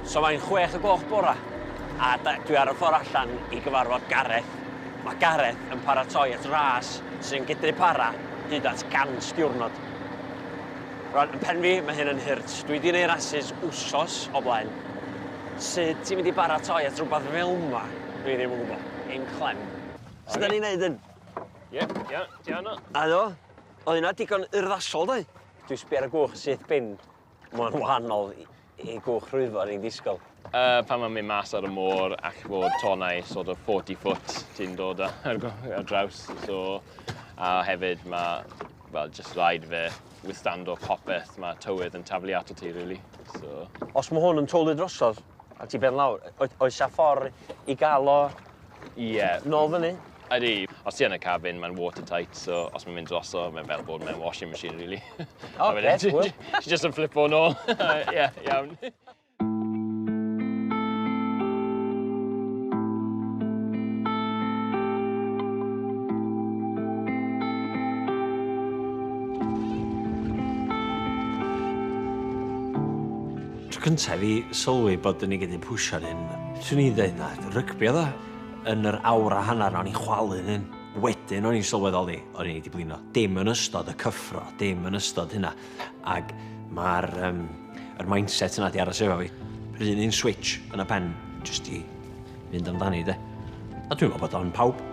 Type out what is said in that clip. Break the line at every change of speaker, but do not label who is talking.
So mae'n chwech y gloch bora, a dwi ar y ffordd allan i gyfarfod Gareth. Mae Gareth yn paratoi at ras sy'n gydru para hyd at 100 diwrnod. Rwan, yn pen fi, mae hyn yn hurt. Dwi wedi gwneud rasus wsos o blaen. Sut ti'n mynd i baratoi at rhywbeth fel yma? Dwi ddim yn gwybod. Dim clem. Sut da ni'n neud hyn? Ie, ie,
ti anna. A do?
Oedd hynna digon urddasol, doi? Dwi sbio ar y gwch syth bin. Mae'n wahanol i, i gwch rhwyfo ni'n disgwyl. Uh, pan mae'n mynd
mas ar y môr ac fod tonau sort of 40 foot ti'n dod ar, ar draws. So, a hefyd mae, well, just rhaid fe withstand o popeth, mae tywydd yn taflu ato ti, really. So... Os mae hwn yn twlu
drosodd, a ti ben lawr, oes a ffordd i gael o Ie, nôl fyny. Ydy, os ti yn
y cabin, mae'n watertight, so os mae'n mynd droso, mae'n fel bod mewn washing machine, really. O, oh, beth, wyl. Ti
just yn flipo
nôl. Ie, iawn.
Tro cynta i fi sylwi bod ni gyd yn pwsio'n hyn. Swn i'n deud na, rygbi oedd o. Yn yr awr a hanner 'na o'n i'n chwalu'n hyn. Wedyn o'n i'n sylweddoli o'n i 'di blino. Dim yn ystod y cyffro, dim yn ystod hynna. Ac mae'r um, yr mindset yna 'di aros efo fi. Yr un un switch yn y pen, jyst i fynd amdani de. A dwi'n meddwl bod o'n pawb.